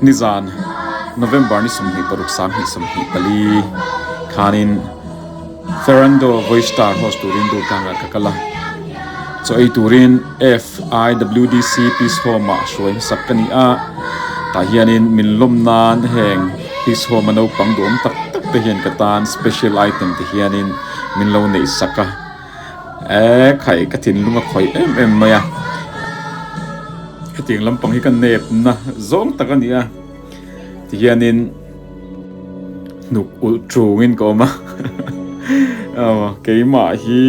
Nizan, November ni sawmhnih paruk sanghnih sawmhnih pali thlanin Ferrando Voistar host turin duh tlangah ka kal a. Chaw ei turin FIWDC Peace Home-a hruai hmasak ka ni a. Tah hianin min lawm nan heng Peace Home-a naupang duhawm tak tak te hian ka tan special item te hianin min lo neih sak a. Eee khai ka thinlung a khawih em em mai a hetiang lampang hi ka nep na zawng tak a ni a ti hian in hnuk ulh ṭung in ka awm a aw keimah hi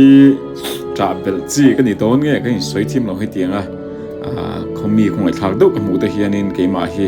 ṭah belh chi ka ni dawn nge ka insawi thim lo hetiang a khaw mi khawngaih thlak deuh ka hmuh te hian in keimah hi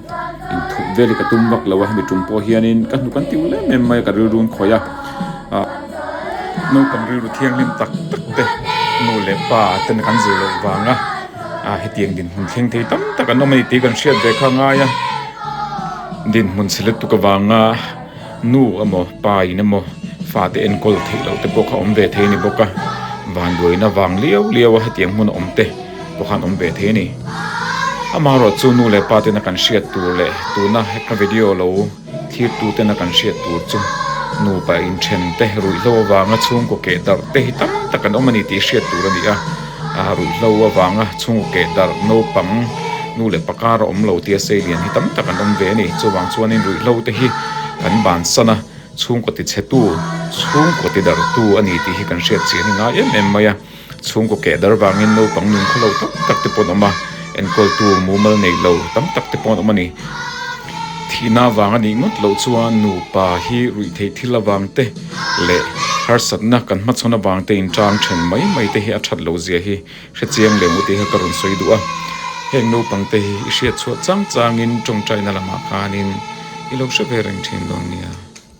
inthup vel hi ka tum vak lo a hemi tum pawh hianin ka hnu kan ti ulem em mai a ka rilru an khawih a ah naupang rilru thianghlim tak tak te nu leh pa ten an kan zir loh vang a ah hetiang dinhmun thleng thei tam tak an awm a ni tih kan hriat ve kha a ngai a dinhmun selectuk avanga. Nu emaw pa in emaw fate enkawl theih loh te pawh kha awm ve thei a ni bawk a, van luaina vang liau liau a hetiang hmun a awm te pawh khan awm ve thei a ni. Amah erawh chu nu leh pa tena kan hriat tur leh tuna hekna video lo thlir tu tena kan hriat tur chu nupa inthen te, ruihhlo avanga chhungkaw keh darh te hi tam tak an awm a ni tih hriat tur a ni a. A ruih hlo avanga chhungu keh darh naupang nu leh pa kara awm lo tia sei lian hi tam tak an awm ve a ni. Chuvang chuanin ruih hlo te hi kan ban sana chhungkaw ti chhetu, chhungkaw ti darh tu a ni tih hi kan hriat chiah ni ngai em em mai a. Chhungkaw keh darh vangin naupang nung khaw lo tam tak te pawh an awm a, enkawltu mumal neih lo tam tak te pawh an awm a ni. Thihna vang a nih ngawt loh chuan nupa hi ruih theih thil avang te, leh harsatna kan hmachhawn avangte inchang ṭhen mai mai te hi a ṭhat lo zia hi hrechiang leh mute hi ka rawn sawi duh a. Heng naupangte hi i hriatchhuah chang changin ṭawngṭaina lamah khanin i lo hre ve reng ṭhin dawn nia.